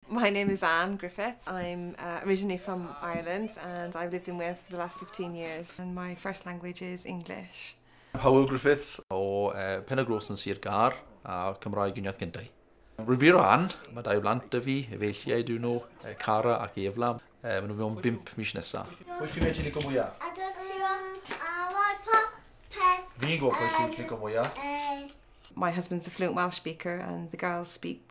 My name is Anne Griffiths. I'm uh, originally from Ireland and I've lived in Wales for the last 15 years and my first language is English. Hywel Griffiths o uh, Pen y Glos yn Sir Gar a Cymraeg yn iaith gyntau. Rwy'n Anne, mae dau blant y fi, efeilliau dyn nhw, Cara ac Eflam. Uh, maen nhw mewn bimp mis nesaf. Pwy chi'n medru licio mwyaf? A dwi'n siwr a roi pop peth. Fi'n gwybod pwy chi'n licio mwyaf. My husband's a fluent Welsh speaker and the girls speak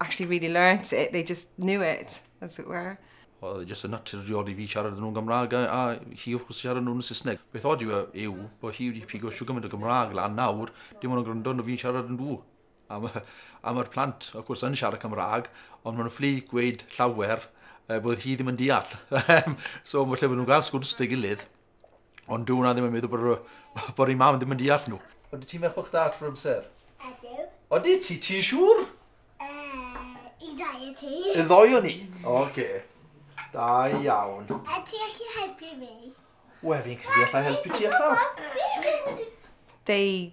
actually really learnt it, they just knew it, as it were. Oedd e jyst yn naturiol i fi siarad nhw'n Gymraeg a, a hi wrth gwrs siarad nhw'n Saesneg. Beth oed yw, e, yw bod hi wedi pigo siw gymaint o Gymraeg lan nawr, dim ond yn gwrando nhw fi'n siarad yn nhw. Am, am yr plant, wrth gwrs, yn siarad Cymraeg, ond maen nhw'n fflu gweud llawer e, bod hi ddim yn deall. so, mae lle maen nhw'n gael sgwrs dy gilydd, Ond dwi'n ddim yn meddwl bod, bod ei mam ddim yn deall nhw. Oeddi ti'n meddwl bod chdi adfer amser? Ydyw. Oeddi ti, ti'n siŵr? E, I ddau o ti. Y ddoi o ni? Oce. Okay. Da iawn. A ti allu helpu fi? Wel, fi'n credu allai helpu ti allan. They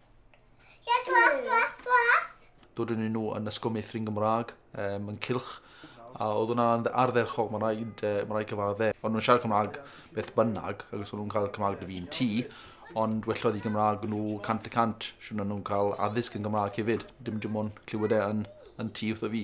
Ie, glas, glas, glas! Doeddwn nhw yn ysgol meithrin Gymraeg um, yn cilch, a oedd hwnna'n ardderchog, mae'n rhaid, uh, ma rhaid cyfadde. Ond nhw'n siarad Cymraeg beth bynnag, ac os nhw'n cael Cymraeg dy fi'n ti, ond welloedd i Gymraeg nhw cant y cant, sy'n nhw'n cael addysg yn Gymraeg hefyd. Dim dim ond clywed e yn, yn ti wrtho fi.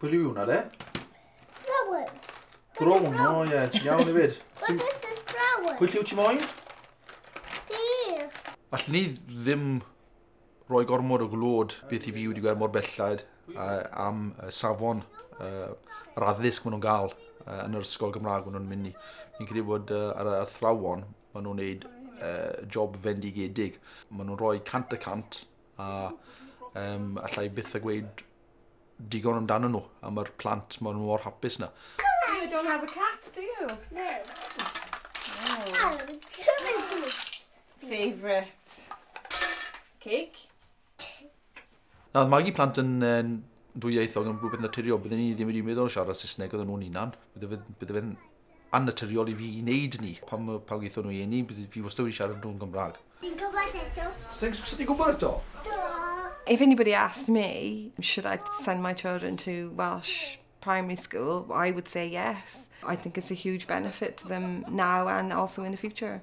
Be yw hwnna de? Brown. Brown, o oh, ie, yeah. iawn i fyd. But this is brown. Pwy lliw ti moyn? Di. Alli ni ddim rhoi gormod o glod beth i fi wedi gweld mor bellad uh, am uh, safon uh, yr addysg maen nhw'n gael uh, yn yr ysgol Gymraeg maen nhw'n mynd i. Fi'n credu bod uh, ar y athrawon maen nhw'n gwneud uh, job fendigedig. Maen nhw'n rhoi cant y cant a um, allai byth a gweud digon amdano nhw a mae'r plant mor mor hapus na. You don't have a cat, do you? No. Oh. Favourite cake? Na, mae Maggie plant yn yn dwyieithog yn rhywbeth naturiol. Byddwn ni ddim wedi meddwl o siarad Saesneg oedden nhw'n unan. Byddwn fe'n annaturiol i fi i wneud ni. Pan mae pawb geithon nhw i eni, fi wastad wedi siarad nhw'n Gymraeg. Fi'n gwybod eto. Sut ti'n gwybod eto? Do! If anybody asked me, should I send my children to Welsh primary school, I would say yes. I think it's a huge benefit to them now and also in the future.